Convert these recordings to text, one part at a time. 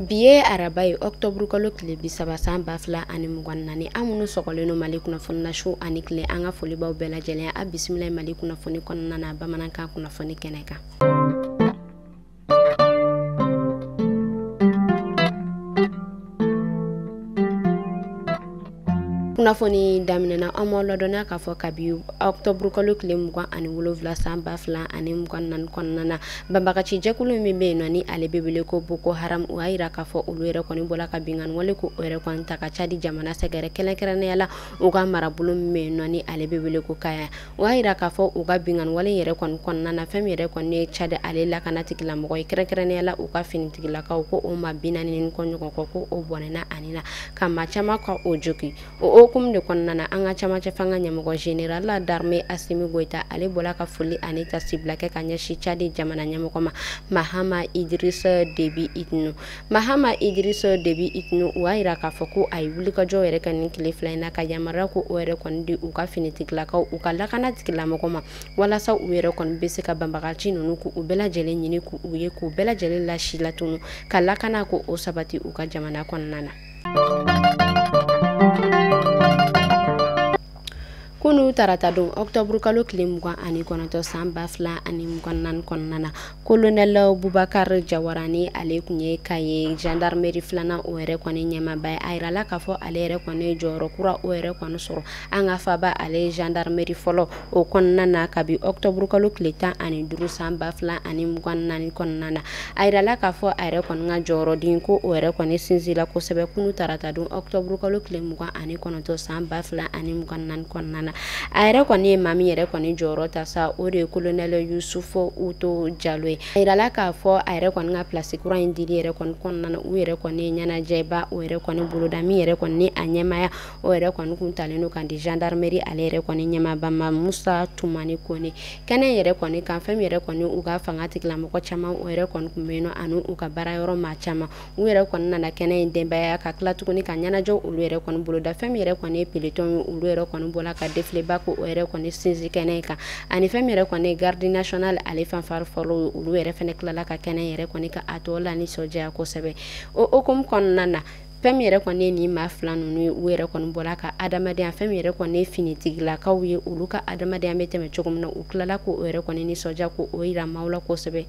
bi ye araba ye ɔktɔburu kalo tile bi saba san ba fila ani mugan naani an minnu sɔgɔlen don mali kunnafoni na su ani tile an ka foli b'aw bɛɛ lajɛlen ye a bisimila mali kunnafoni kɔnɔna na bamanankan kunnafoni kɛnɛ kan kunnafoni daminɛna an ma ladɔnya k'a fɔ kabi ɔktɔburu kalo tile mugan ani wolonwula san ba fila ani mugan naani kɔnɔna na banbagaci jɛkulu min bɛ yen nɔ ni ale bɛ wele ko boko haram o y'a yira k'a fɔ olu yɛrɛ kɔni bɔla ka binkanni wale ko o yɛrɛ kɔni ta ka cadi jamana sɛgɛrɛ kɛrɛnkɛrɛnnenya la u ka marabolo min bɛ yen nɔ ni ale bɛ wele ko kaya o y'a yira k'a fɔ u ka binkanwale yɛrɛ kɔni kɔnɔna na fɛn min yɛrɛ kɔni ye cadi ale lakana tigilamɔgɔ ye kɛrɛnkɛrɛnnenya la u ka finitigilakaw ko o maa bi naani ni kɔ ɲɔgɔn kɔ ko o bɔnɛna a ni na ka maa caman ka o jogin o hukumu de kɔnɔna na an ka camancɛ fanga ɲɛmɔgɔ general darme asimi goyita ale bɔla ka foli ani taasibila kɛ ka ɲɛsin cadi jamana ɲɛmɔgɔ ma mahama idrisa debi itinu Mahama Idriso Debi Itno o y'a yira k'a fɔ ko a ye wulikajɔ yɛrɛ kɛ nin tile fila in na ka yamaruya ko o yɛrɛ kɔni di u ka finitigilakaw u ka lakana tigilamɔgɔ ma walasa u yɛrɛ kɔni bɛ se ka banbagaci ninnu k'u bɛɛ lajɛlen ɲini k'u ye k'u bɛɛ lajɛlen lasilatunun ka lakana ko o sabati u ka jamana kɔnɔna na. kunun tarata don ɔkutɔburukalo tile mugan ani kɔnɔntɔn san ba fila ani mugan naani kɔnɔna na kolonɛlɛ bubakar jawara ni ale kun ye kayi jandarmeri filanan o yɛrɛ kɔni ɲɛmaaba ye a yirala k'a fɔ ale yɛrɛ kɔni jɔyɔrɔ kura o yɛrɛ kɔni sɔrɔ an ka faaba ale jandarmeri fɔlɔ o kɔnɔna na kabi ɔkutɔburukalo tile tan ani duuru san ba fila ani mugan naani kɔnɔna na a yirala k'a fɔ a yɛrɛ kɔni ka jɔyɔrɔden ko o yɛrɛ kɔni sinsinla kosɛbɛ kunun tarata don ɔktɔburu kalo tile mugan ani kɔnɔntɔn san ba fila ani mugan naani kɔnɔna na a yɛrɛ kɔni ye maa min yɛrɛ kɔni jɔyɔrɔ ta sa o de ye kolonɛlɛ yusufu oto jalo ye a yirala k'a fɔ a yɛrɛ kɔni ka pilasi kura in dili yɛrɛ kɔni kɔnɔna na u yɛrɛ kɔni ye ɲɛnajɛba o yɛrɛ kɔni boloda min yɛrɛ kɔni ni a ɲɛmaaya o yɛrɛ kɔni kun talen don k'a di gendarmerie ale yɛrɛ kɔni ɲɛmaaba ma musa tumani kone kɛnɛ yɛrɛ kɔni kan fɛn min yɛrɛ kɔni u ka fanga tigilamɔgɔ caman o yɛrɛ kɔni kun bɛ yen nɔ ani u ka baara yɔrɔ maa caman u yɛrɛ kɔni nana kɛnɛ in denbaya ka tila tuguni ka ɲɛnajɛ olu yɛrɛ kɔni boloda fɛn min yɛrɛ kɔni ye pelotɔn ye olu yɛrɛ kɔni bɔla ka defileba ko o yɛrɛ kɔni sinsin kɛnɛ in kan ani fɛn min yɛrɛ kɔni ye gardi national ale fanfari fɔlɔ ye olu yɛrɛ fana tilala ka kɛnɛ yɛrɛ kɔni ka a tɔ lanisɔndiya kosɛbɛ o hukumu kɔnɔna na fɛn min yɛrɛ kɔni ye nin maa fila ninnu ye u yɛrɛ kɔni bɔla ka adamadenya fɛn min yɛrɛ kɔni ye finitigilakaw ye olu ka adamadenya bɛ tɛmɛ cogo min na u tilala ko o yɛrɛ kɔni nisɔndiya ko o yira maaw la kosɛbɛ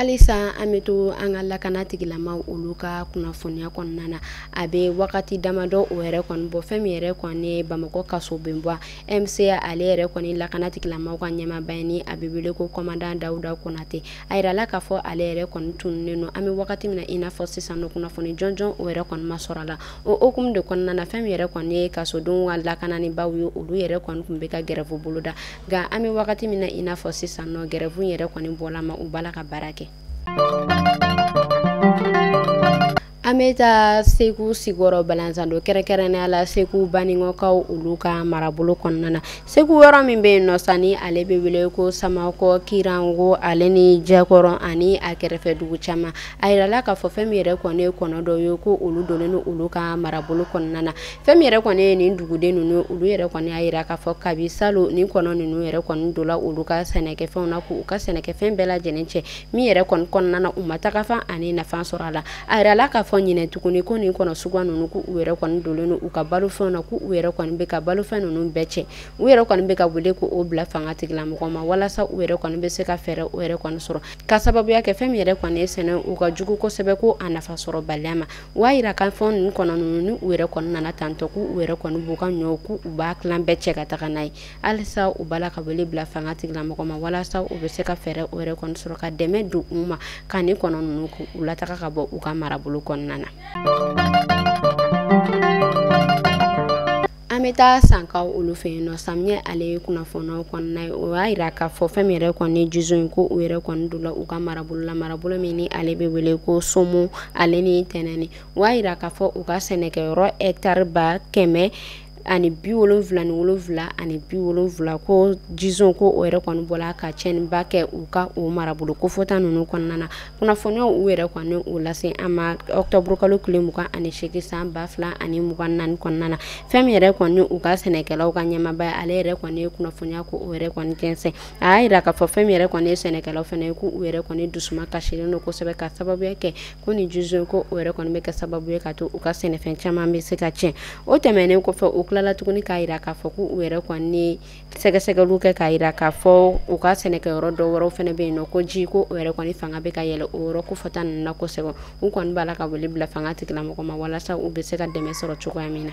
halisa an bɛ to an ka lakana tigilamaw olu ka kunnafoniya kɔnɔna na a bɛ wagati damadɔ o yɛrɛ kɔni bɔ fɛn min yɛrɛ kɔni ye bamakɔ kaso bonba mca ale yɛrɛ kɔni lakana tigilamaw ka ɲɛmaaba ye ni a bɛ wele ko kɔmandan dawuda konatɛ a yirala k'a fɔ ale yɛrɛ kɔni tununnen don an bɛ wagati min na i n'a fɔ sisan nɔ kunnafoni jɔnjɔn o yɛrɛ kɔni ma sɔrɔ a la o hukumu de kɔnɔna na fɛn min yɛrɛ kɔni ye kasodenw ka lakananibaw ye olu yɛrɛ kɔni tun bɛ ka gɛrɛfu boloda nka an bɛ wagati min na i n'a fɔ sisan nɔ gɛrɛfu yɛrɛ kɔni bɔla ma u b'a la ka baara kɛ An bɛ taa segu sikɔrɔ balanzando kɛrɛnkɛrɛnnenya la segu banikɔkaw olu ka marabolo kɔnɔna na segu yɔrɔ min bɛ yen nɔ sa ni ale bɛ wele ko samakɔ kiranko ale ni jɛkɔrɔ ani a kɛrɛfɛ dugu caman a yirala k'a fɔ fɛn min yɛrɛ kɔni ye kɔnɔ dɔ ye ko olu donnen don olu ka marabolo kɔnɔna na fɛn min yɛrɛ kɔni ye nin duguden ninnu olu yɛrɛ kɔni y'a yira k'a fɔ kabi salon nin kɔnɔ ninnu yɛrɛ kɔni dola olu ka sɛnɛkɛfɛnw na k'u ka sɛnɛkɛfɛn bɛɛ lajɛlen cɛ min yɛrɛ kɔni kɔnɔna na u ma taga fan ani nafa sɔrɔ a la a yirala k'a fɔ ɲinɛ tuguni ko nin kɔnɔ suguya ninnu ko u yɛrɛ kɔni dolen don u ka balofɛnw na ko u yɛrɛ kɔni bɛ ka balofɛn ninnu bɛɛ cɛ u yɛrɛ kɔni bɛ ka wele ko o bila fanga tigilamɔgɔ ma walasa u yɛrɛ kɔni bɛ se ka fɛɛrɛ u yɛrɛ kɔni sɔrɔ ka sababuya kɛ fɛn min yɛrɛ kɔni ye sɛnɛ u ka jugu kosɛbɛ ko a nafa sɔrɔ baliya ma u y'a yira k'a fɔ nin kɔnɔ ninnu ni u yɛrɛ kɔni nana tantɔ ko u yɛrɛ kɔni b'u ka ɲɔw ko u b'a tilan bɛɛ cɛ ka taga n'a ye halisa u b'a la ka wele bila fanga tigilamɔgɔ ma walasa u bɛ se ka fɛɛrɛ o yɛrɛ kɔni sɔrɔ ka dɛmɛ don u ma ka nin kɔnɔ ninnu u lataga ka bɔ u ka marabolo kɔnɔna na an bɛ taa sankaw olu fɛ yen nɔ samiyɛ ale ye kunnafoniyaw kɔnɔna ye o y'a yira k'a fɔ fɛn min yɛrɛ kɔni ye jison in ko u yɛrɛ kɔni dola u ka marabolo la marabolo min ni ale bɛ wele ko somo ale ni tɛnɛni o y'a yira k'a fɔ u ka sɛnɛkɛyɔrɔ hɛtari ba kɛmɛ ani bi wolonwula ni wolonwula ani bi wolonwula ko jison ko o yɛrɛ kɔni bɔla ka cɛnniba kɛ u ka o marabolo kofɔta ninnu kɔnɔna na kunnafoniyaw u yɛrɛ kɔni o lase an ma ɔkutɔburu kalo tile mugan ani seegin san ba fila ani mugan ni naani kɔnɔna na fɛn min yɛrɛ kɔni u ka sɛnɛkɛlaw ka ɲɛmaaba ale yɛrɛ kɔni ye kunnafoniya ko o yɛrɛ kɔni jɛnsɛn a y'a yira k'a fɔ fɛn min yɛrɛ kɔni ye sɛnɛkɛlaw fɛnɛ ye ko u yɛrɛ kɔni dusuma kasilen don kosɛbɛ ka sababuya kɛ ko nin jison in ko o yɛrɛ kɔni bɛ kɛ sababu ye ka to u ka sɛnɛfɛn caman bɛ se ka tiɲɛ o tɛmɛnen kɔfɛ u tilala tuguni k'a yira k'a fɔ ko u yɛrɛ kɔni sɛgɛsɛgɛliw kɛ k'a yira k'a fɔ u ka sɛnɛkɛyɔrɔ dɔ wɛrɛw fɛnɛ bɛ yen nɔ ko ji ko o yɛrɛ kɔni fanga bɛ ka yɛlɛ o yɔrɔ kofɔta ninnu na kosɛbɛ u kɔni b'a la ka wele bila fanga tigilamɔgɔ ma walasa u bɛ se ka dɛmɛ sɔrɔ cogoya min na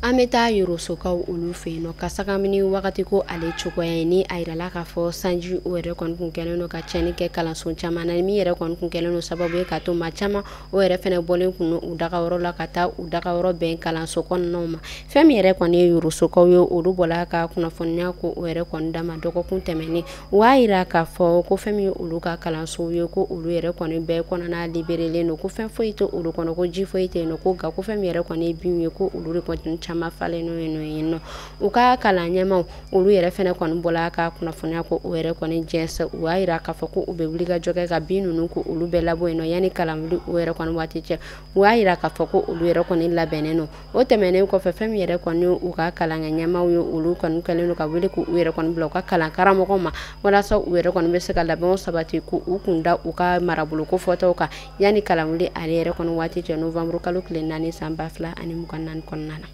an bɛ taa yorosokaw olu fɛ yen nɔ ka sagamini wagati ko ale cogoya ye ni a yirala k'a fɔ sanji o yɛrɛ kɔni kun kɛlen don ka cɛnni kɛ kalanso caman na min yɛrɛ kɔni kun kɛlen don sababu ye ka to maa caman o yɛrɛ fɛnɛ bɔlen kun u dagayɔrɔ la ka taa u dagayɔrɔ bɛn kalanso kɔnɔnaw ma fɛn min yɛrɛ kɔni ye yorosokaw ye olu bɔla ka kunnafoniya ko o yɛrɛ kɔni dama dɔgɔkun tɛmɛnen U y'a yira k'a fɔ ko fɛn min olu ka kalanso ye ko olu yɛrɛ kɔni bɛɛ kɔnɔna liberelen don ko fɛn foyi tɛ olu kɔnɔ ko ji foyi tɛ yen nɔ ko nka ko fɛn min yɛrɛ kɔni ye binw ye ko olu de kɔni caman falen don yen nɔ u ka kalan ɲɛmaw olu yɛrɛ fɛnɛ kɔni bɔla ka kunnafoniya ko o yɛrɛ kɔni jɛnsɛ u y'a yira k'a fɔ ko u bɛ wulikajɔ kɛ ka bin ninnu ko olu bɛɛ labɔ yen nɔ yanni kalan wuli o yɛrɛ kɔni waati cɛ u y'a yira k'a fɔ ko olu yɛrɛ kɔni labɛnnen don o tɛmɛnen kɔfɛ fɛn min yɛrɛ kɔni u ka kalanko ɲɛmaw ye olu kɔni kɛlen don ka wele k' u yɛrɛ kɔni bila u ka kalan karamɔgɔw ma walasa u yɛrɛ kɔni bɛ se ka labɛnw sabati k' u kun da u ka marabolo kofɔtaw kan yanni kalan wuli ale yɛrɛ kɔni waati cɛ novembre kalo tile naani san ba fila ani mugan naani kɔnɔna na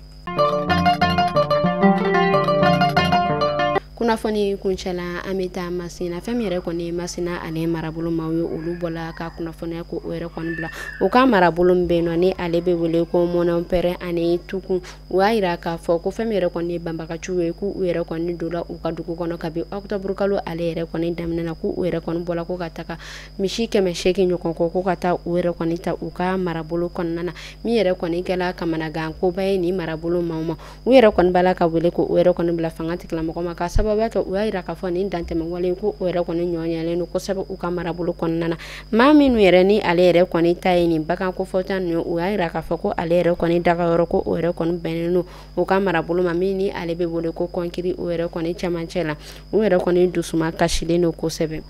kunnafoni kuncɛla an bɛ taa masina fɛn min yɛrɛ kɔni ye masina ale marabolo maaw ye olu bɔla ka kunnafoniya ko o yɛrɛ kɔni bila u ka marabolo min bɛ yen nɔ ni ale bɛ wele ko mɔnɔnpɛrɛn ani tukun u y'a yira k'a fɔ ko fɛn min yɛrɛ kɔni ye banbagaciw ye k'u yɛrɛ kɔni donna u ka dugu kɔnɔ kabi octobre kalo ale yɛrɛ kɔni daminɛ na k'u yɛrɛ kɔni bɔla ko ka taga misi kɛmɛ seegin ɲɔgɔn kɔ ko ka taa u yɛrɛ kɔni ta u ka marabolo kɔnɔna na min yɛrɛ kɔni kɛla kamanagan koba ye nin marabolo maaw ma u yɛrɛ kɔni b'a la ka wele ko u yɛrɛ kɔni bila fanga tigilamɔgɔ ma k'a sababuya kɛ u y'a yira k'a fɔ nin dantɛmɛwale ko o yɛrɛ kɔni ɲɔgɔnyalen don kosɛbɛ u ka marabolo kɔnɔna na maa minnu yɛrɛ ni ale yɛrɛ kɔni ta ye nin bagan kofɔta ninnu u y'a yira k'a fɔ ko ale yɛrɛ kɔni dagayɔrɔ ko o yɛrɛ kɔni bɛnnen don u ka marabolo ma min ni ale bɛ wele ko kɔnkiri o yɛrɛ kɔni cɛmancɛ la u yɛrɛ kɔni dusuma kasilen don kosɛbɛ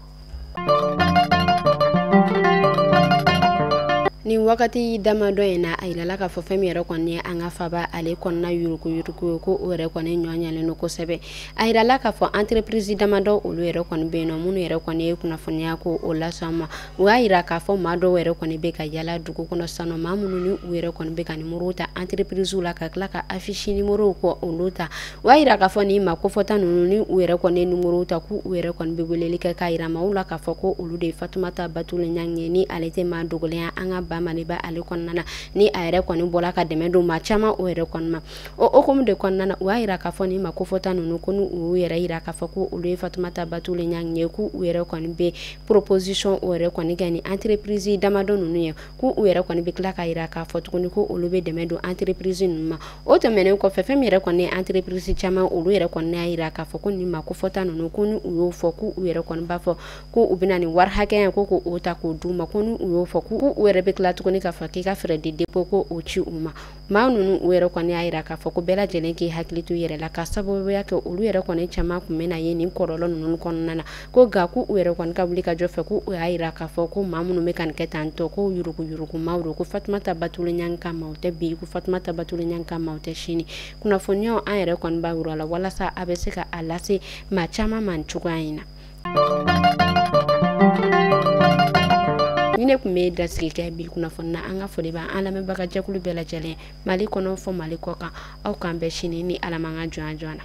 ni wagati damadɔ in na a yirala k'a fɔ fɛn min yɛrɛ kɔni ye an ka faaba ale kɔnɔna yurukuyuruku ye ko o yɛrɛ kɔni ɲɔɲɛlen don kosɛbɛ a yirala k'a fɔ entreprise damadɔ olu yɛrɛ kɔni bɛ yen nɔ minnu yɛrɛ kɔni ye kunnafoniya ko o lase an ma u y'a yira k'a fɔ maa dɔw yɛrɛ kɔni bɛ ka yala dugu kɔnɔ sisan maa minnu ni u yɛrɛ kɔni bɛ ka nimoro ta entreprisew la ka tila ka affiche nimoro ko olu ta u y'a yira k'a fɔ nin maa kofɔta ninnu ni u yɛrɛ kɔni ye nimorow ta k'u u yɛrɛ kɔni bɛ weleli kɛ k'a yira maaw la k'a fɔ ko olu de ye fatumata batuli ɲangi ye ni ale tɛ maa dogolen ye an ka ba maliba ale kɔnɔna na ni a yɛrɛ kɔni bɔla ka dɛmɛ don maa caman o yɛrɛ kɔni ma o hukumu de kɔnɔna na u y'a yira k'a fɔ nin maa kofɔta ninnu ko n'u y'u yɛrɛ yira k'a fɔ ko olu ye fatumata batuli ɲangi ye k'u u yɛrɛ kɔni bɛ proposition o yɛrɛ kɔni kɛ ni entreprise damadɔ ninnu ye ko u yɛrɛ kɔni bɛ tila k'a yira k'a fɔ tuguni ko olu bɛ dɛmɛ don entreprise ninnu ma o tɛmɛnen kɔfɛ fɛn min yɛrɛ kɔni ye entreprise caman olu yɛrɛ kɔni y'a yira k'a fɔ ko nin maa kofɔta ninnu ko ni u y'o fɔ ko u yɛrɛ kɔni b'a fɔ ko u bɛna nin wari hakɛya ko k'o ta k'o d'u ma ko ni u y'o fɔ ko u yɛrɛ bɛ tila tuguni k'a fɔ k'i ka frais de dépôt ko o ci u ma maa ninnu u yɛrɛ kɔni y'a yira k'a fɔ ko bɛɛ lajɛlen k'i hakili to yɛrɛ la ka sababuya kɛ olu yɛrɛ kɔni caman kun bɛna ye nin kɔlɔlɔ ninnu kɔnɔna na ko nka ko u yɛrɛ kɔni ka wuli ka jɔ fɛ ko u y'a yira k'a fɔ ko maa minnu bɛ ka nin kɛ tan tɔ ko yuruguyurugumaaw don ko fatumata batuli ɲan ka maaw tɛ bi ko fatumata batuli ɲan ka maaw tɛ sini kunnafoniyaw an yɛrɛ kɔni b'a yira la walasa a bɛ se ka a lase maa caman ma cogoya in na nin ne kun bɛ dansigi kɛ bi kunnafoni na an ka foli b'an lamɛnbaga jɛkulu bɛɛ lajɛlen mali kɔnɔ fɔ mali kɔkan aw k'an bɛn sini ni ala m'an ka jɔn jɔn na